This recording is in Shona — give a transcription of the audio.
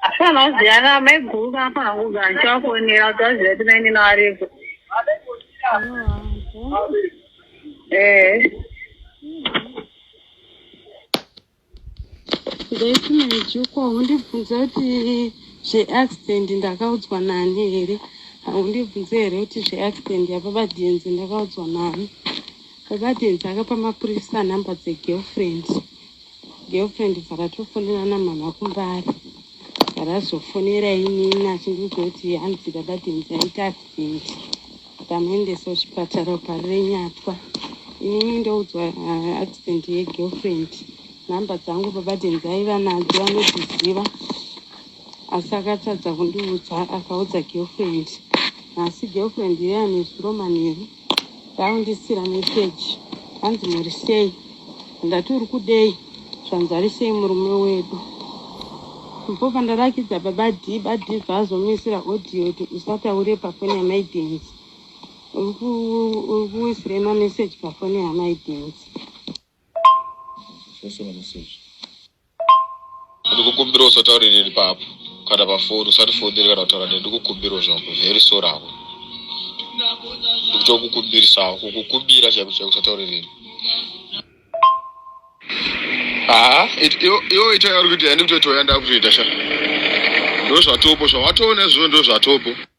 Hapana waziyana amai guru apa hangu gancho akonera kuti waziva kuti maini nawareko. Eh. ndaiti maijukwa undibvunza kuti zveaccident ndakaudzwa nani here haundibvunze here kuti zveaccident yababa denzi ndakaudzwa nani baba denzi akapa mapurisa number dzegirlfriend Girlfriend pakatofonera namama kumbare pakazofonera inini achindiudza kuti hanzi baba Dennis aita accident akamuendesa kuchipatara pari renyatwa inini ndoudzwa uh, accident yegirlfriend nhamba dzangu baba Dennis aiva nadzo anodziziva asi akatadza kundiudza akaudza girlfriend nhasi girlfriend iye anezuro manheru Ndaundisira message hanzi muri sei ndati uri kudei zvanzi ari sei murume wedu before pandarakidza baba d badi vazomuisira audio kuti usataure pafoni yamai dance uri kuisirei mameseji pafoni yamai dance ndikukumbira usataure neni papo kana pafoni usatifonere kana kutaura neni ndikukumbira zvangu very sorry hako ndikutokukumbirisawo kukukumbira chaiko chaiko usataure neni haa iwo ita yauri kuita yandikutoita yandakutoita sha ndozvatopo zvawatoona izvozvo ndozvatopo